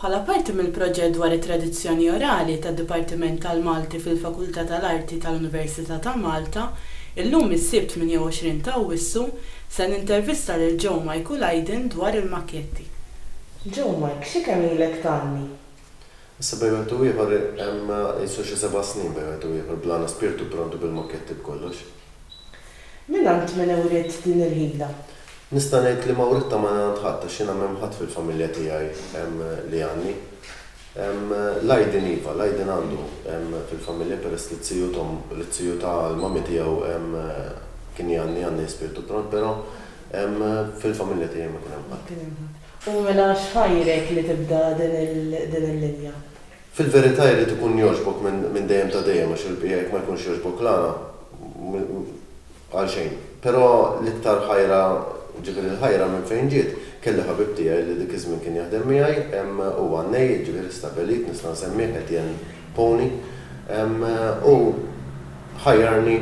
Bħala parti mill-proġett dwar it-tradizzjoni orali tad-Dipartiment tal-Malti fil-Fakultà tal-Arti tal-Università ta' Malta, illum is-Sibt 28 ta' Awwissu, se nintervista lil Joe Mike u Lydon dwar il-makketti. Joe Mike, xi kemm ilek tgħanni? Issa bejn wieħed u ieħor hemm qisu xi seba' snin bejn wieħed u ieħor bl-għana spirtu prontu bil-mokketti b'kollox. Mingħand min uriet din il-ħila? Nista' ngħid li ma writtha mingħand ħadd għax jiena m'hemm ħadd fil-familja tiegħi li għanni. L-Aydin iva, l-Aydin għandu fil-familja peress li t-tiju t'omm, li t-tiju ta' l-mami tiegħu kien jgħanni, għanni spirtu pront però fil-familja tiegħi ma kien hemm ħadd. U mela x'ħajrek li tibda din il-linja? Fil-verità jrid ikun jogħġbok minn dejjem ta' dejjem għax il-bqija jekk ma jkunx jogħġbok la għalxejn. Però l-iktar ħajra, jiġifieri l-ħajra minn fejn ġiet, kelli ħabib tiegħi li dik iż-żmien kien jaħdem miegħi, hu għannej, jiġifieri stabbilit, nista' nsemmih, Etienne Pony, hu ħajjarni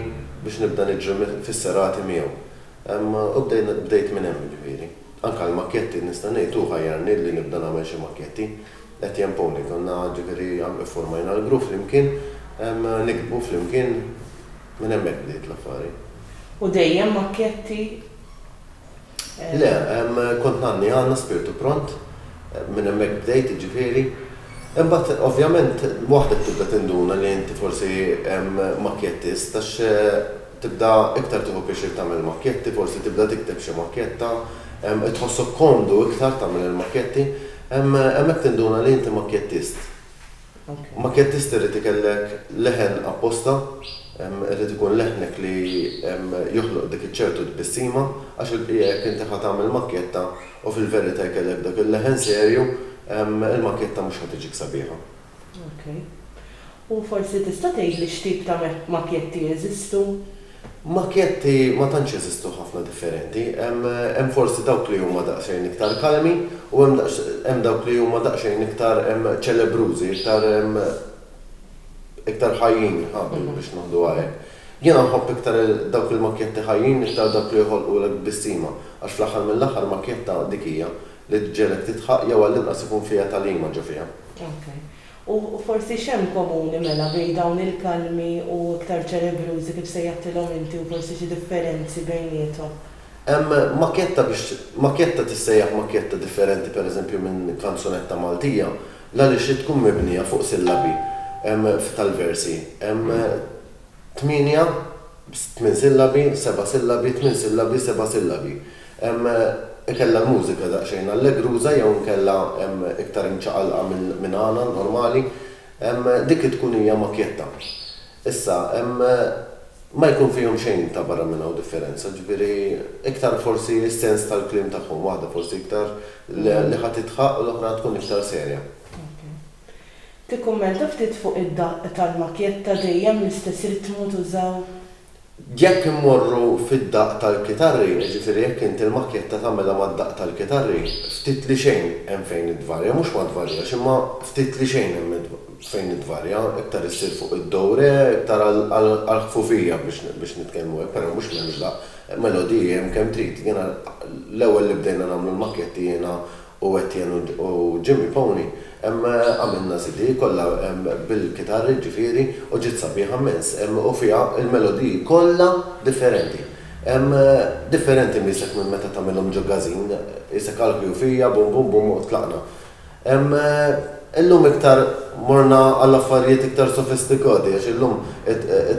biex nibda niġri fis-serati miegħu. U bdejt minn hemm jiġifieri. Anke għall-makketti, nista' ngħid, hu ħajjarni li nibda nagħmel xi makketti. Etienne Pauli, Konna, ġifieri, iffurmajna l-grupp flimkien, niktbu flimkien, minn hemmhekk bdiet l-affari. U dejjem makketti? Le, kont ngħanni għandna spirtu pront, minn hemmhekk bdejt, jiġifieri. Imbagħad, ovvjament, waħdek tibda tinduna li inti forsi makkettist għax Tibda iktar tieħu pjaċir tagħmel makketti, forsi tibda tikteb xi makketta, qed tħossok komdu iktar tagħmel il-makketti. Hemmhekk tinduna li inti makkettist. Makkettist irid ikellek leħen apposta, irid ikun leħnek li joħloq dik iċ-ċertu tbissima, għax il-bqija jekk inti ħa tagħmel makketta u fil-verità jkellek dak il-leħen serju, il-makketta mhux ħa tiġik sabiħa. Ok. U forsi tista' tgħidli x'tip ta' makjetti jeżistu? Makjetti ma tantx jeżistu ħafna differenti. Hemm forsi dawk li huma daqsxejn iktar kalmi u hemm dawk li huma daqsxejn iktar ċelebrużi, iktar iktar ħajjin biex ngħiduha hekk. Jiena nħobb iktar dawk il-makjetti ħajjin, iktar dawk li joħolqulek tbissima, għax fl-aħħar mill-aħħar makjetta dik hija, Li ġġegħlek tidħaq jew għall-inqas ikun fiha tagħlima ġo fiha. Ok. U forsi x'hemm komuni mela bejn dawn il-kalmi u iktar ċerebrużi kif sejjaħtilhom inti u forsi xi differenzi bejniethom? Hemm makkjetta biex makkjetta tissejjaħ makkjetta differenti pereżempju minn kanzunetta Maltija l-għaliex hi tkun mibnija fuq sillabi tal-versi. Hemm. Tmienja, tmien sillabi, seba' sillabi, tmien sillabi, seba' sillabi. Ikella l-mużika daqsxejn allegruża jew inkella iktar imċaqalqa minn għana normali. Dik it-tkun hija makjetta. Issa, ma jkun fihom xejn ta' barra minn hawn differenza, ġifieri iktar forsi s-sens tal-kliem tagħhom, waħda forsi iktar li ħa titħaqq u l-oħra tkun iktar serja. Tikkummenta ftit fuq id-daqq tal-makjetta dejjem l-istess ritmu tużaw? Jekk immorru fid-daqq tal-kitarri, jiġifieri jekk inti l-makjetta tagħmilha mad-daqq tal-kitarri, ftit li xejn hemm fejn ittvarja, mhux ma tvarjax imma ftit li xejn hemm fejn ittvarja, iktar issir fuq id-do re, iktar għall-ħfufija biex nitkellmu hekk, però mhux m'hemmx daqq, melodiji hemm kemm trid. Jiena l-ewwel li bdejna nagħmlu l-makjetti jiena u Etienne u Jimmy Pony ehm għamilna CD kollha ehm bil-kitarri ġifieri u ġiet sabiħa mmens ehm u fiha l-melodiji kollha differenti ehm differenti miesek minn meta tagħmilhom ġo Gazin isek għall-ħjufija bum bum bum u tlaqna ehm illum iktar morna għal affarijiet iktar sofistikati għax illum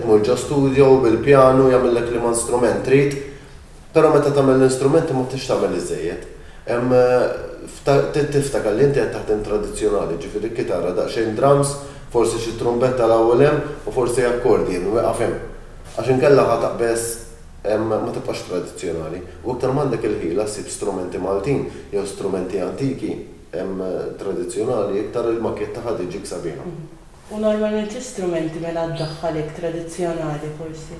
tmur ġo studio u bil-pjanu jagħmillek liema strument trid Però meta tagħmel l-instrumenti ma tridx tagħmel iżżejjed. Hemm, trid tiftakar li inti qed taħdem tradizzjonali, ġifieri kitarra, daqsxejn drums, forsi xi trumbetta 'l hawn u 'l hemm u forsi accordion, wieqaf hemm. Għax inkella ħa taqbeż, ma tibqax tradizzjonali. U iktar m'għandek il-ħila ssib strumenti Maltin jew strumenti antiki, tradizzjonali, iktar il-maketta ħa tiġik sabiħa. U normalment xi strumenti mela ddaħħal hekk tradizzjonali forsi?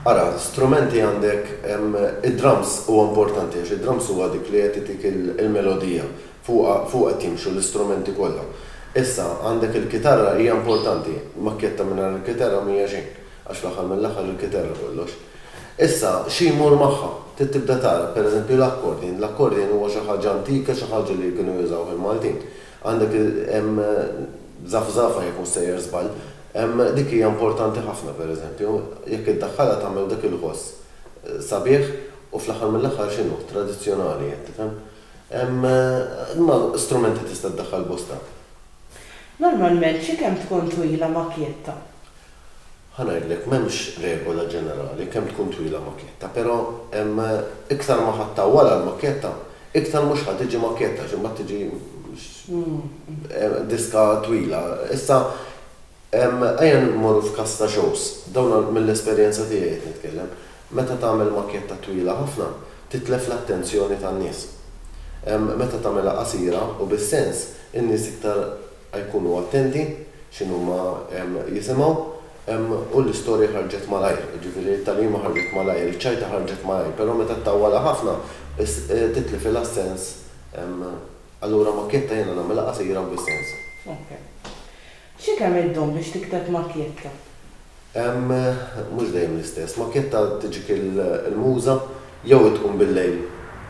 Ara, strumenti għandek id-drums huwa importanti għax id-drums huwa dik li qed itik il-melodija, fuqha fuqha qed jimxu l-istrumenti kollha. Issa, għandek il-kitarra hija importanti, makkjetta mingħajr il-kitarra m'hija xejn, għax fl-aħħar mill-aħħar il-kitarra kollox. Issa, xi jmur magħha? Trid tibda tara, pereżempju l-accordion, l-accordion huwa xi ħaġa antika, xi ħaġa li kienu jużawha l-Maltin. Għandek hemm żafżafa jekk mhux sejjer żball. Dik hija importanti ħafna pereżempju, jekk iddaħħalha tagħmel dak il-ħoss sabiħ u fl-aħħar mill-aħħar x'inhu, tradizzjonali qed tifhem. Imma strumenti tista' ddaħħal bosta. Normalment xi kemm tkun twila makjetta? Ħa ngħidlek, m'hemmx regola ġenerali, kemm tkun twila makjetta, però hemm iktar ma ħa ttawwalha l-makjetta, iktar mhux ħa tiġi makjetta għax imbagħad tiġi diska twila. Issa ejja mmorru f'każ ta' shows, dawn mill-esperjenza tiegħi qed nitkellem, meta tagħmel makjetta twila ħafna, titlef l-attenzjoni tan-nies. Meta tagħmilha qasira u bis-sens, in-nies iktar jkunu attenti x'inhuma jisimgħu, u l-istorja ħarġet malajr, jiġifieri t-tagħlima ħarġet malajr, iċ-ċajta ħarġet malajr, però meta ttawwalha ħafna titlifilha s-sens, allura makjetta jiena nagħmilha qasira u bis-sens. Ok. Xi kemm iddum biex tikteb makjetta? Mhux dejjem l-istess. Makjetta tiġik il-muża jew hi tkun bil-lejl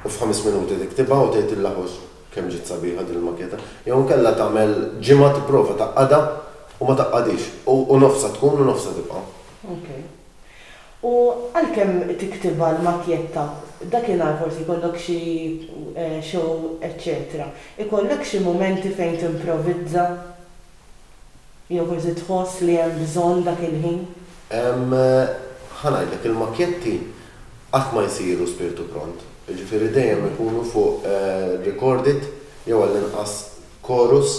u f'ħames minuti tiktibha u tgħidilha ħuġ Kemm ġiet sabiħa din il-maketa. Jew inkella tagħmel ġimgħa tipprova tgħaqqadha u ma tgħaqqadhiex. U u nofsha tkun u nofsha tibqa'. Ok. U għalkemm tiktibha l-makjetta, dakinhar forsi jkollok xi show eċċetera, ikollek xi mumenti fejn timprovizza? Jew forsi tħoss li hemm bżonn dak il-ħin? Ħa ngħidlek, il-makkjetti qatt ma jsiru spirtu pront, jiġifieri dejjem ikunu fuq recorded jew għall-inqas chorus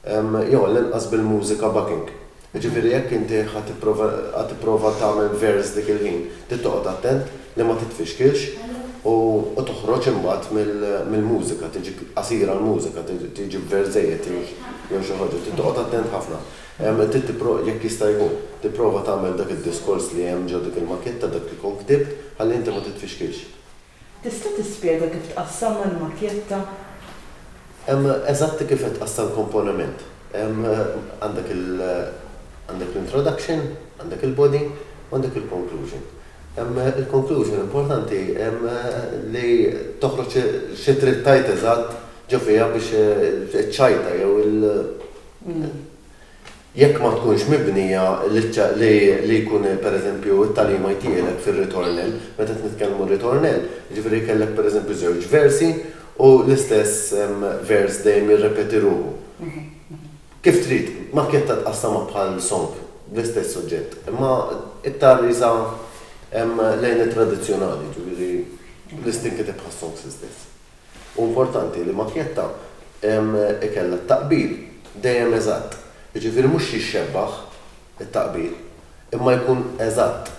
jew għall-inqas bil-mużika backing. Jiġifieri jekk inti ħa tipprova tagħmel verse dik il-ħin, trid toqgħod attent, li ma titfixkilx u toħroġ imbagħad mill-mużika, tiġi qasira l-mużika, tiġi b'verżejjed jew xi ħaġa. Trid toqgħod attent ħafna. Trid jekk jista' jkun, tipprova tagħmel dak id-diskors li hemm ġo dik il-makjetta, dak li tkun ktibt, ħalli inti ma titfixkilx. Tista' tispjega kif tqassamha l-makjetta? Eżatti kif qed tqassam komponiment. Għandek l-introduction, għandek il-body u għandek il-conclusion. Il-konklużjoni importanti li toħroġ xi trid tgħid eżatt ġo fiha biex iċċajta jew il jekk ma tkunx mibnija li jkun pereżempju t-tagħlim IT jgħinek fir-ritornell. Meta qed nitkellmu ritornell, jiġifieri kellek pereżempju żewġ versi u l-istess vers dejjem jirrepeti ruħu. Kif trid, makketta tqassamha bħal song bl-istess suġġett, imma iktar qisha lejn it-tradizzjonali, jiġifieri l-iss tinkiteb bħas-songs l-istess. Hu importanti li makketta ikollha t-taqbil dejjem eżatt, jiġifieri mhux jixxebbaħ it-taqbil, imma jkun eżatt,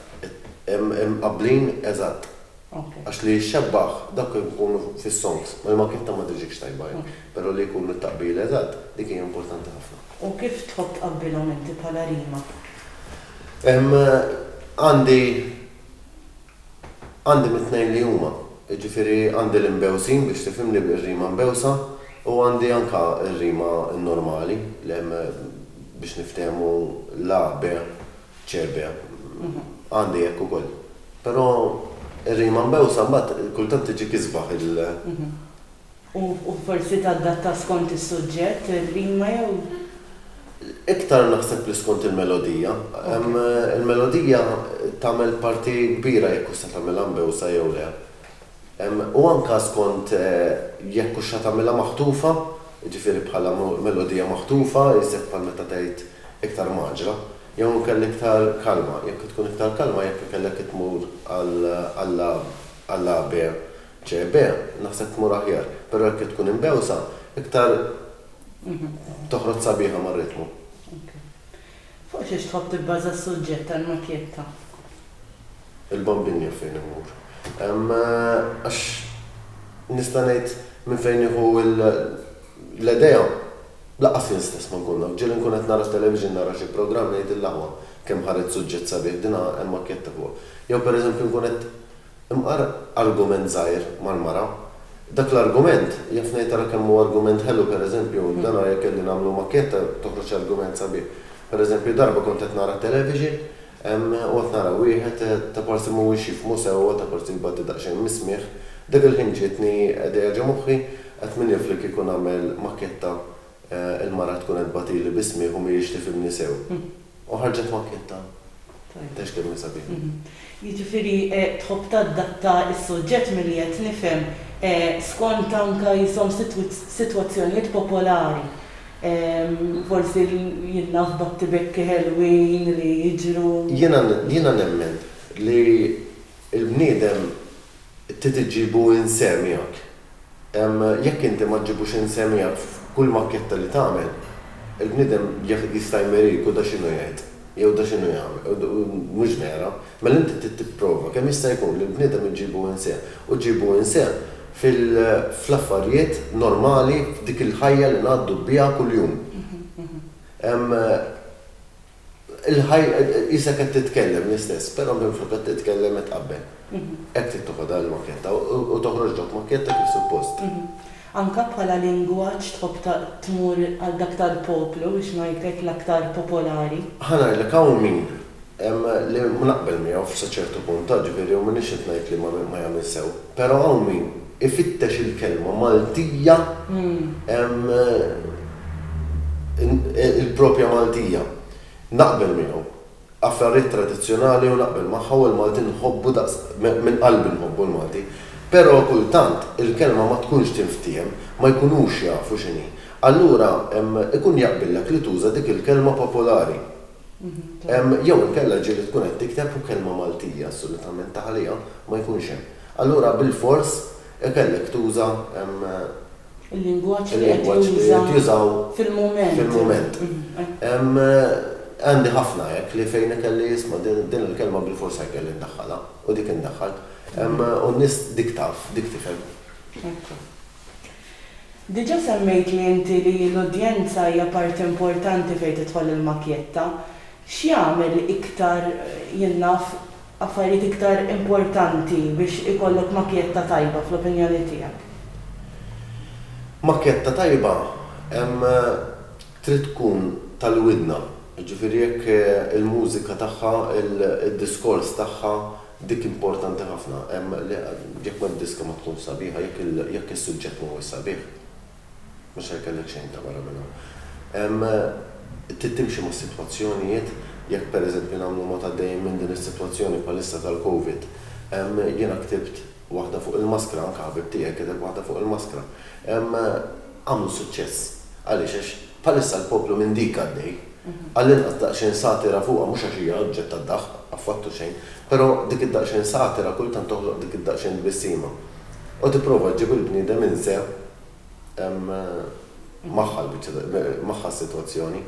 imqabblin eżatt. Għax li jixxebbaħ dawk li jkunu fis-songs, ma kif ta' ma tiġikx tajba hi, però li jkun mit-taqbil eżatt, dik hija importanti ħafna. U kif tħobb tqabbilhom inti bħala rima? Għandi għandi mit-tnejn li huma. Jiġifieri għandi l-imbewsin biex tifhimni, ir-rima mbewsa, u għandi anke r-rima n-normali li hemm biex niftehmu l-A, B. Ċerbja. Għandi hekk ukoll. Però ir-rima mbewsa mbagħad kultant tiġik isbaħ il. U forsi tadatta skont is-suġġett ir-rima jew? Iktar naħseb li skont il-melodija. Il-melodija tagħmel parti kbira jekk hux se tagħmilha mbewsa jew le. u anke skont jekk hux se tagħmilha maħtufa, jiġifieri bħala melodija maħtufa, iżjed bħal meta tgħid iktar mgħaġġra, jew inkella iktar kalma, jekk tkun iktar kalma jekk ikellek itmur għal A, għal B, C, B, naħseb tmur aħjar, però jekk itkun imbewsa, iktar toħroġ sabiħa mar-ritmu. Fuq xiex tħobb tibbaża s-suġġett tal-makjetta? Il-bambin jaf fejn imur. Għax nista' ngħid minn fejn nieħu l-idea? Lanqas jien stess ma nkun naf. Ġieli nkun qed nara t-television, nara xi programm, ngħid il-aħwa kemm ħariġt suġġett sabiħ, din hemm makjetta fuqha. Jew pereżempju nkun qed Imqar argument żgħir mal-mara. Dak l-argument, jaf ngħid ara kemm hu argument ħelu pereżempju, dan ara jekk kelli nagħmlu makketta toħroġ argument sabiħ. Pereżempju darba kont qed nara television, u qed nara wieħed ta' parsi mhuwiex jifhmu sewwa, ta' parsi jbatti daqsxejn mis-smigħ, dak il-ħin ġietni idea ġo moħħi, qed min jaf li kieku nagħmel makketta Il-mara tkun qed tbatili bi smigħ u mhijiex tifhimni sew. U ħarġet makkjetta. Tgħidx kemm hi sabiħa. Jiġifieri tħobb tadatta s-suġġett milli qed nifhem skont anke jisom sitwazzjonijiet popolari. Forsi jilna' f'battibekki ħelwin li jiġru. Jiena nemmen li l-bniedem trid iġġibu inseh miegħek. Jekk inti ma ġġibux insemmijak f'kull makketta li tagħmel, il-bniedem jista' jmeri jkun da x'inhu jgħid, jew da x'inhu jagħmel, u mhux vera. Mela inti trid tipprova kemm jista' jkun li l-bniedem iġġibu inseh, u ġġibu inseh fl-affarijiet normali, f'dik il-ħajja li ngħaddu biha kuljum. Il-ħajja qisha qed titkellem l-istess, però minflok qed titkellem qed tqabbel. Hekk trid toħodha l-makketta u toħroġ dawk makketta kif suppost. Anke bħala lingwaġġ tħobb tmur għal dak tal-poplu biex ngħid hekk l-aktar popolari? Ħa ngħidlek hawn min li ma naqbel miegħu sa ċertu punt, jiġifieri u m'iniex qed ngħid li ma jagħmilx sew, però hawn min Ifittex il-kelma Maltija l-proprja Maltija. Naqbel miegħu. Affarjiet tradizzjonali u naqbel magħha u l-Malti nħobbu daqs minn qalbi nħobbu l-Malti. Però kultant il-kelma ma tkunx tinftiehem, ma jkunux jafu x'inhi. Allura ikun jaqbillek li tuża dik il-kelma popolari. Jew inkella ġieli tkun qed tikteb u kelma Maltija assolutament ta' ħalija ma jkunx hemm. Allura bilfors ikellek tuża Il-lingwaġġ li qed jintużaw fil-mument. Għandi ħafna hekk li fejn ikelli isma' din il-kelma bilfors se jkelli ndaħħalha u dik indaħħal. U n-nies dik taf, dik tifhem. Hekk hu. Diġà semmejtli inti li l-udjenza hija parti importanti fejn tidħol il-makjetta. X'jagħmel iktar jien naf affarijiet iktar importanti biex ikollok makjetta tajba fl-opinjoni tiegħek? Makjetta tajba trid tkun tal-widna, jiġifieri jekk il-mużika tagħha, id-diskors tagħha, dik importanti ħafna. Jekk ma d-diska ma tkunx sabiħa, jekk is-suġġett ma huwiex sabiħ. Mhux ser ikollek xejn ta' barra minn hawn. Trid timxi mas-sitwazzjonijiet. Jekk pereżempju nagħmlu mod għaddejjin minn din is-sitwazzjoni bħalissa tal-Covid, jiena ktibt waħda fuq il-maskra, anke ħabib tiegħi kiteb waħda fuq il-maskra. Għamlu suċċess. Għaliex? Għax Bħalissa l-poplu minn dik għaddej. Għallinqas daqsxejn satira fuqha mhux għax hija oġġett ta' daħq, affattu xejn, però dik id-daqsxejn satira kultant toħloq dik id-daqsxejn tbissima u tipprova ġġib il-bniedem inse magħha l-biċċa magħha s-sitwazzjoni.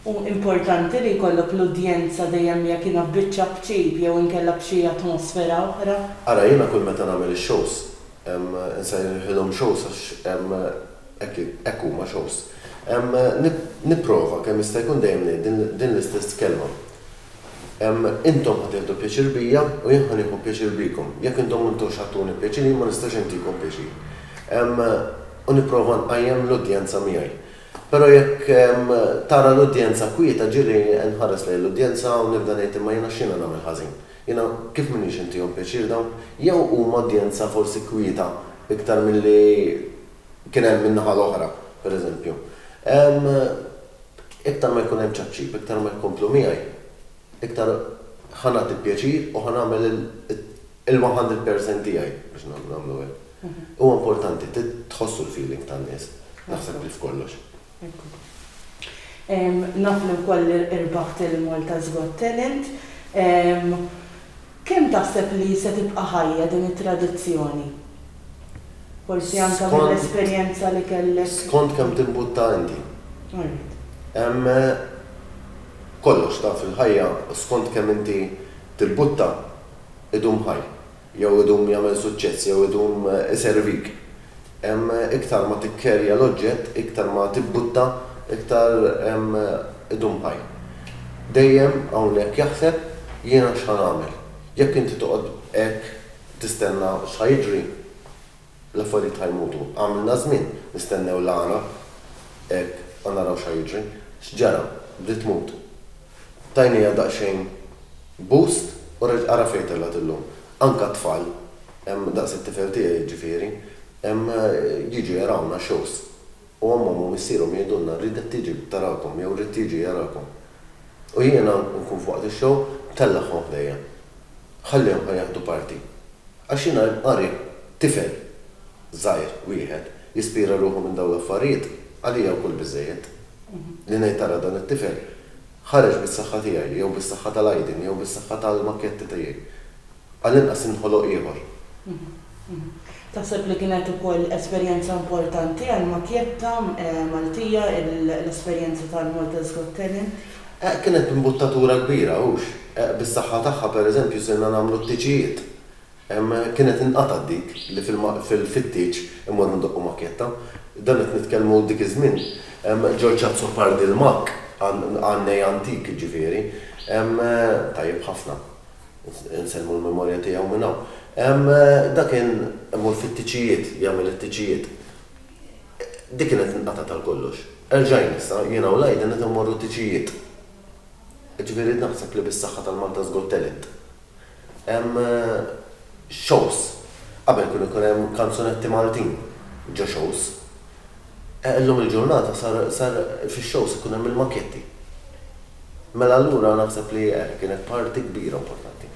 Hu importanti li jkollok l-udjenza dejjem jekk jiena f'biċċa b'ċip jew inkella b'xi atmosfera oħra. Ara jiena kull meta nagħmel ix-shows Insejħilhom shows għax hekk huma, shows. Nipprova kemm jista' jkun dejjem ngħid din l-istess kelma. Intom ħa tieħdu pjaċir bija u jien ħa nieħu pjaċir bikom. Jekk intom ma intux ħa tuni pjaċir jien ma nistax intikom pjaċir. U nipprova nqajjem l-udjenza miegħi. Però jekk tara l-udjenza kwieta ġieli nħares lejn l-udjenza u nibda ngħid imma jiena x'jiena nagħmel ħażin? Jiena kif m'iniex intihom pjaċir dawn? Jew huma udjenza forsi kwieta iktar milli kien hemm min-naħa l-oħra, pereżempju. Iktar ma jkun hemm ċapċip, iktar ma jkomplu miegħi, iktar ħa nagħti pjaċir u ħa nagħmel il-one hundred percent tiegħi biex nagħmlu hekk. Huwa importanti, trid tħossu l-feeling tan-nies, naħseb li f'kollox. Naf li wkoll irbaħt il-Malta's Got Talent. Kemm taħseb li se tibqa' ħajja din it-tradizzjoni? Forsi anke mill-esperjenza li kellek. Skont kemm timbutta inti. Alright. Hemm kollox taf fil-ħajja skont kemm inti timbutta idum ħaj. jew idum jagħmel suċċess jew idum iservik. Iktar ma tikkerja l-oġġett, iktar ma tibbutta, iktar idum ħaj. Dejjem hawnhekk jaħseb, jiena x'ħa nagħmel? Jekk inti toqgħod hekk tistenna x'ħa jiġri? L-affarijiet ħa jmutu. Għamilna żmien nistennew l-għana hekk ħa naraw x'ħa jiġri. X'ġara? Bdiet tmut. Tajnieha daqsxejn boost u reġgħet ara fejn telgħet illum. Anke t-tfal, daqs it-tifel tiegħi jiġifieri, jiġu jarawna, shows. u ommhom u missierhom jgħidulna rridek tiġi tarakom jew rrid jiġi jarakom. U jiena nkun f'waqt ix-show tellagħhom ħdejja. Ħallihom ħa jaħdu parti. Għax jiena qari tifel żgħir wieħed jispira ruħu minn dawn l-affarijiet, għalija wkoll biżżejjed. Li ngħid tara dan it-tifel ħareġ bis-saħħa tiegħi jew bis-saħħa tal-għajdin jew bis-saħħa tal-makkjetti tiegħi. Għall-inqas inħoloq ieħor. Taħseb li kienet ukoll esperjenza importanti għall-makjetta Maltija l-esperjenza tal-Malta's Got Talent? Kienet b'imbuttatura kbira, hux? Bis-saħħa tagħha, pereżempju, sirna nagħmlu t-tiċijiet. Kienet inqatgħet dik li fil-fit-tieċ immorru ndoqqu makjetta. Dan qed nitkellmu dik iż-żmien. George Azzopardi l-makk, għan-nej antik, jiġifieri. Tajjeb ħafna. Insellmu l-memorja tiegħu minn hawn. Ehm, dak kien imur fit-tiċijiet, jagħmel it-tiċijiet. Dik kienet inqatgħet għal kollox. Erġajn issa, jiena u l-Aiden qed immorru tiċijiet. Ġifieri naħseb li bis-saħħa tal-Malta's Got Talent. Hemm shows. Qabel kienu jkun hemm kanzunetti Maltin ġo shows. Illum il-ġurnata sar sar fix-shows ikun hemm il-maketti. Mela allura naħseb li eh, kienet parti kbira importanti.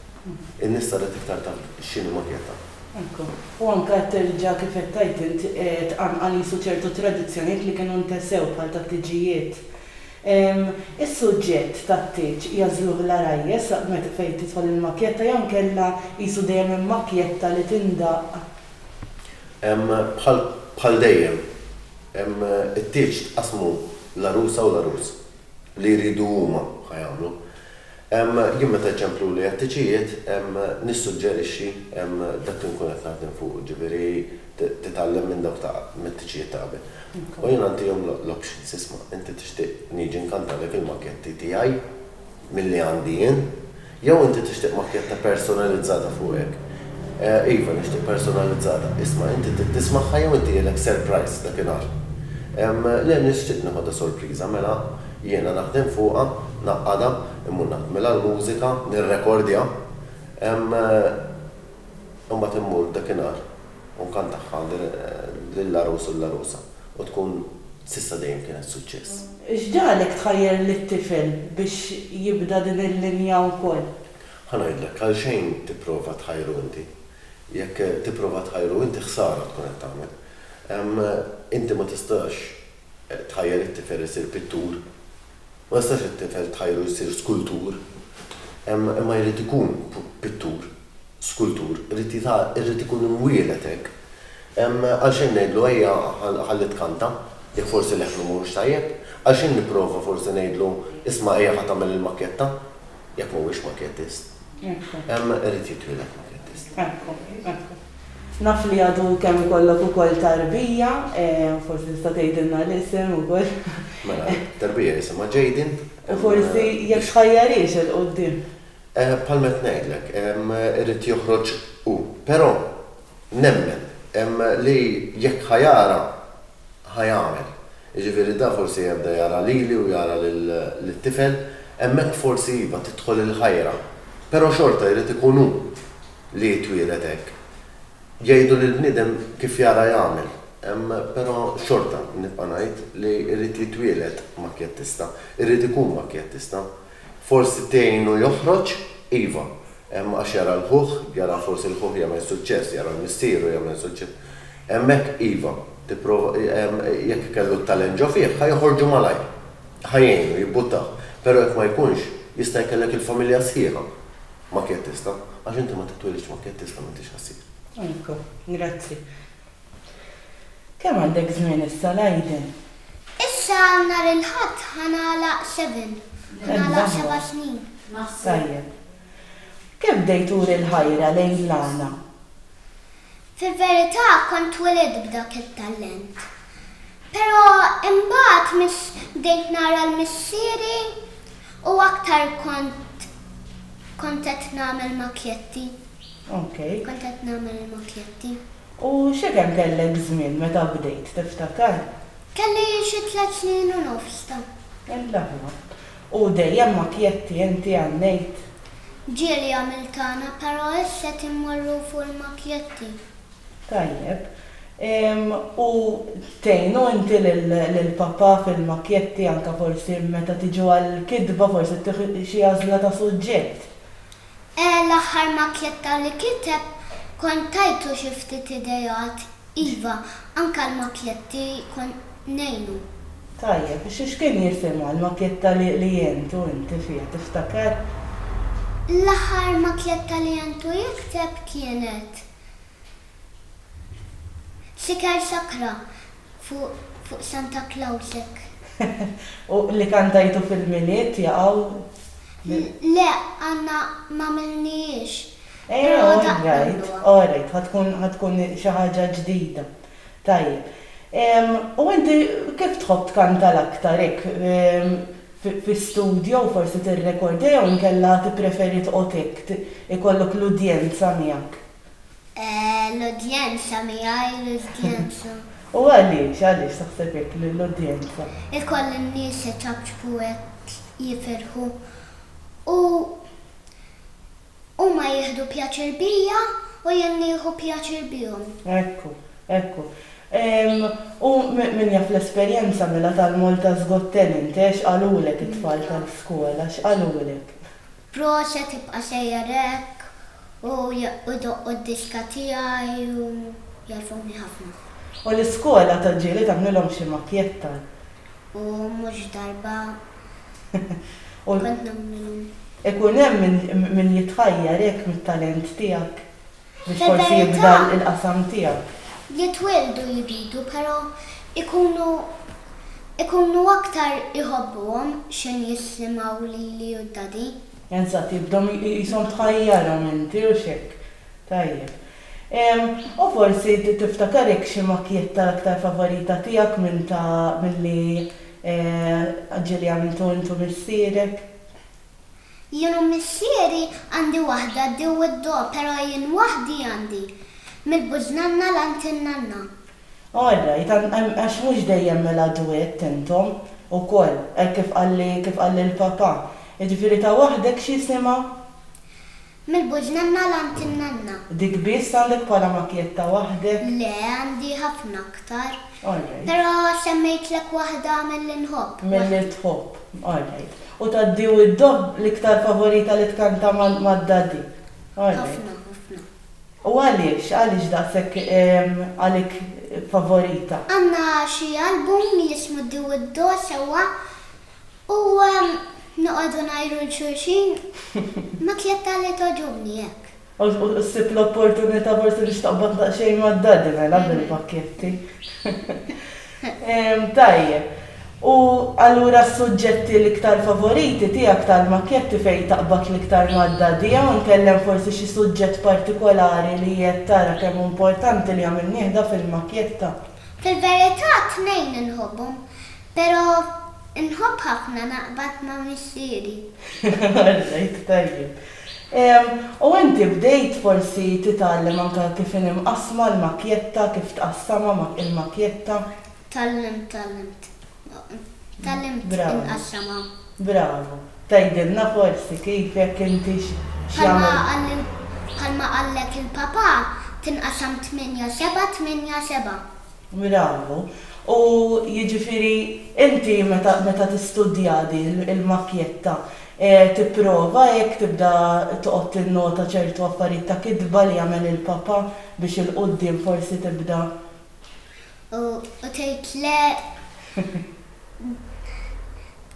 In-nies saret iktar taf x'inhi maketta. Ekku. U anke qed terġa' kif qed tgħid int, tqanqal qisu ċertu tradizzjonijiet li kienu ntesew bħal tat-tiġijiet. Is-suġġett tat-tieġ jagħżluh l-għarajjes fejn tidħol il-maketta jew inkella qisu dejjem hemm makjetta li tindaqq? Hemm bħal bħal dejjem, hemm it-tieġ tqassmu l-għarusa u l-għarus. Li jridu huma, ħa jagħmlu. Hemm jien meta jċempluli għat-tiċijiet, hemm nissuġġerixxi, hemm dak li nkun qed naħdem fuqu, ġifieri titgħallem minn dawk ta' mit-tiċijiet ta' qabel. U jiena ntihom l-options, isma' inti tixtieq niġi nkantalek il-makketti tiegħi? milli għandi jien. Jew inti tixtieq makkjetta personalizzata fuqek? Iva, nixtieq personalizzata. Isma', inti trid tismagħha jew inti jegħlek surprise dakinhar? Le, nixtieq nieħodha sorpriża, mela jiena naħdem fuqha, ngħaqqadha, immur nagħmilha l-mużika, nirrekordja. Imbagħad immur dakinhar u nkantaha lill-għarus u l-għarusa u tkun s'issa dejjem kienet suċċess. X'ġagħlek tħajjar lit-tifel biex jibda din il-linja wkoll? Ħa ngħidlek, għalxejn tipprova tħajru inti. Jekk tipprova tħajru inti ħsara tkun qed tagħmel. Inti ma tistax tħajjar it-tifel isir pittur. Ma jistax it-tifel tħajru jsir skultur, imma jrid ikun pittur, skultur, irid ikun imwieled hekk. Għalxejn ngħidlu ejja ħalli tkanta, jekk forsi leħnu mhuwiex tajjeb? Għalxejn nipprova forsi ngħidlu isma' ejja ħa tagħmel il-makketta? Jekk m'huwiex makettist. Ekku. Hemm irid jitwieled makettist. Ekku, ekku. Naf li għadu kemm ikollok ukoll tarbija, forsi tista' tgħidilna l-isem ukoll. Mela, t-tarbija jisimha Jayden. U forsi jekk tħajjarhiex 'il quddiem. Bħalma qed ngħidlek, irid joħroġ hu. Però nemmen li jekk ħa jara ħa jagħmel. Jiġifieri da forsi jebda jara lili u jara lit-tifel, hemmhekk forsi iva tidħol il-ħajra. Però xorta jrid ikun hu li jitwieled hekk. Jgħidu li l-bniedem kif jara jagħmel, però xorta nibqa' ngħid li jrid jitwieled makjattista, jrid ikun makjattista. Forsi tgħinu joħroġ? Iva. Hemm għax jara l-ħuh, jara forsi l-ħuh jagħmel suċċess, jara l-missieru jagħmel suċċess. Hemmhekk, iva, tipprova, jekk kellu t-talent ġo fih, ħa joħorġu malajr. Ħa jgħinu, jibbuttah. Però jekk ma jkunx, jista' jkellek il-familja sħiħa makjattista, għax inti ma titwilidx makjattista m'intix ħassir. Ejko, grazzi. Kemm għandek żmien issa, Leiden? Issa nhar il-Ħadd ħa nagħlaq seven. Ħa nagħlaq seba' snin. Tajjeb. Kif bdejt turi l-ħajra lejn l-għana? Fil-verità kont twielidt b'dak it-tallent. Però imbagħad miss bdejt nara l-missieri u aktar kont kont qed nagħmel makjetti. Okej. Kont qed nagħmel il-makjetti. U x'ekem kellek żmien meta bdejt, tiftakar? Kelli xi tliet snin u nofs ta. Il-laħma. U dejjem ma kjetti inti għannejt? Ġieli għamil tagħna però ess qed immorru fuq il-makjetti. Tajjeb. U tgħinu inti lil papà fil-makjetti anke forsi meta tiġu għall-kitba forsi ttieħu xi għażla ta' suġġett? Eh l-aħħar makletta li kiteb kont tajtlu xi ftit ideat, iva anke l-makletti kont ngħinu. Tajjeb, x'kien jisimha l-maketta li għentu inti fiha, tiftaker? L-aħħar makletta li għentu jikteb kienet Siker sakra fuq Santa Clausek. U li kantajtu fil-Milied jaqgħu? Le, għadna m'għamilnihiex. Però daqqa ngħiduha. Orajt, orajt, ħa tkun xi ħaġa ġdida. Tajjeb. U inti kif tħobb tkanta l-aktar hekk fi studjo u forsi tirrekordja jew inkella tippreferi tqgħod hekk ikollok l-udjenza miegħek? L-udjenza migħajr l-udjenza. U għaliex, għaliex taħseb hekk li l-udjenza. Ikollha n-nies iċapċpu hekk jifirħu u huma jieħdu pjaċir bija u jien nieħu pjaċir bihom. Ekku, ekku. U min jaf l-esperjenza mela tal-Malta's Got Talent, x'qalulek it-tfal tal-skola, x'qalulek? Proset ibqa sejjer hekk u jdoqqu d-diska tiegħi u jgħarfuni ħafna. U l-iskola tal-ġieli tagħmlilhom xi makjetta. U mhux darba kont nagħmlilhom. Ikun hemm min jitħajjar hekk mit-talent tiegħek. Biex forsi jibda l-qasam tiegħek. Jitwieldu jridu però jkunu jkunu aktar iħobbuhom xejn jissimgħu lili u d-daddy. Eżatt, jibdew qishom tħajjarhom inti u x'hekk. Tajjeb. U forsi tiftakarek xi makjetta l-aktar favorita tiegħek minn ta' milli ġieli għamiltu int u missierek? Jien u missieri għandi waħda d-di u d-do pero jien waħdi għandi mill-buġnanna l-għand in-nanna. All right, għax mhux dejjem mela duett intom ukoll, hekk kif qalli kif qalli l-papà. Jiġifieri ta' waħdek x'jisimha? Mill-buġ nanna l-għand in-nanna. Dik biss għandek bħala makjetta waħdek? Le, għandi ħafna aktar. Alright. Però semmejtlek waħda milli nħobb. Milli tħobb. Alright. U tad-di u d-dob l-iktar favorita li tkanta mad-daddy? Alright. Ħafna, ħafna. U għaliex? Għaliex daqshekk għalik favorita? Għandna xi album li jismu d-di u d-do sewwa U noqogħdu ngħiru 'l xulxin, Ma tlieta li togħġobni hekk. U ssib l-opportunità forsi biex taqbad daqsxejn mad-Daddy mela bil-pakketti. Tajjeb. U allura s-suġġetti l-iktar favoriti tiegħek tal-makketti fejn taqbad l-iktar mad-Daddy jew inkellem forsi xi suġġett partikolari li qiegħed tara kemm hu importanti li għamilnieh da fil-makketta? Fil-verità t-tnejn inħobbhom. Pero inħobb ħafna naqbad ma missieri. Alla jik tajjeb. U inti bdejt forsi titgħallem anke kif inhi mqassma l-makjetta kif tqassamha mak il-makjetta? Tgħallimt tgħallimt. Tgħallimt Bravo. inqassamha. Bravo. Tgħidilna forsi kif jekk inti x' Bħalma jagħmel qal bħalma qallek il-papà tinqasam tmienja seba' tmienja seba'. minn hawn u u jiġifieri inti meta meta tistudja di l-makkjetta tipprova hekk tibda toqgħod tinnota ċertu affarijiet ta' kitba li jagħmel il-papà biex 'il quddiem forsi tibda. U u tgħid le.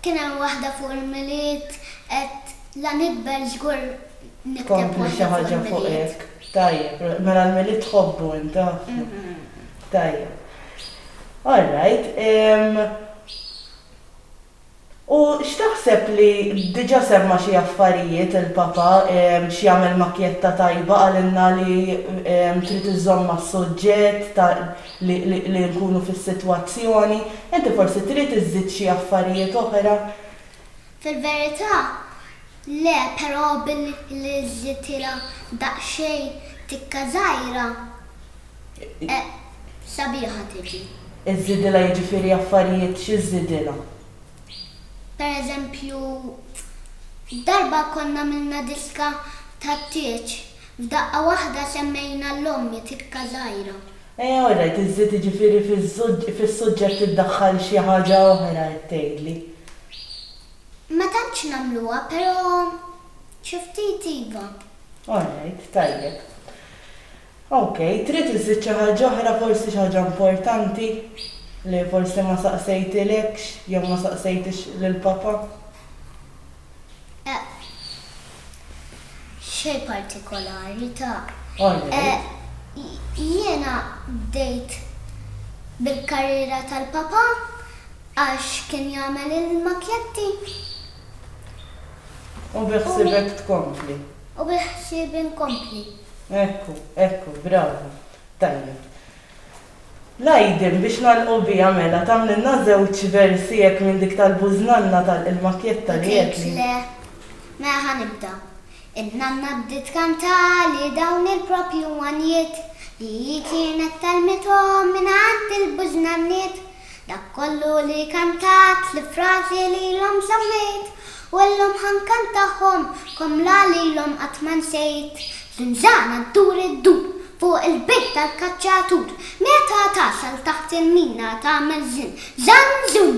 Kien hemm waħda fuq il-Milied, qed la nikber żgur nikteb waħda fuq il-Milied. Kompli xi ħaġa fuq hekk. Tajjeb, mela l-Milied tħobbu int, għafna. Tajjeb. All right. U x'taħseb li, diġa' semma xi affarijiet il-Papa, x'jagħmel makjetta tajba, qalilna li trid iżżomm mas-suġġett, li nkunu fis-sitwazzjoni. Inti forsi trid iżżid xi affarijiet oħra? Fil-verità, le, però billi żżidtilha daqsxejn tikka żgħira, sabiħa tiġi. Iżżidilha jiġifieri affarijiet x'iżżidilha? Pereżempju, darba konna għamilna diska tat-tieġ, f'daqqa waħda semmejna l-ommi tikka żgħira. Eh all right, iżżid jiġifieri fis-suġġett iddaħħal xi ħaġa oħra qed tgħidli? Ma tantx nagħmluha, però xi ftit iva. All right, tajjeb. Ok, trid iżżid xi ħaġa oħra, forsi xi ħaġa importanti li forsi ma saqsejtilekx jew ma saqsejtix lil Papa? e. Xejn partikolari, ta. E. Jiena bdejt bil-karriera tal-papà għax kien jagħmel il-makjetti. U biħsiebek tkompli? U biħsiebi nkompli. Ekku, ekku, bravu. Tajjeb. L-Għajdim, biex nagħlqu biha mela, tagħmlilna żewġ versi hekk minn dik tal-bużnanna tal Il-makkjetta li għedli. Tgħidx le? Mela ħa nibda. In-nanna bdiet kantali dawn il-proprju għanjiet li hi kienet tgħallmithom mingħand il-bużnanniet. Dak kollu li kantat, l-frażi li ilhom żammejt, u llum ħa nkantahom, komla li llum qatt ma nsejt. Żinżana ddur iddur, fuq il-bejt tal-kaċċatur, meta tasal taħt il-mina tagħmel żin, żan-żun!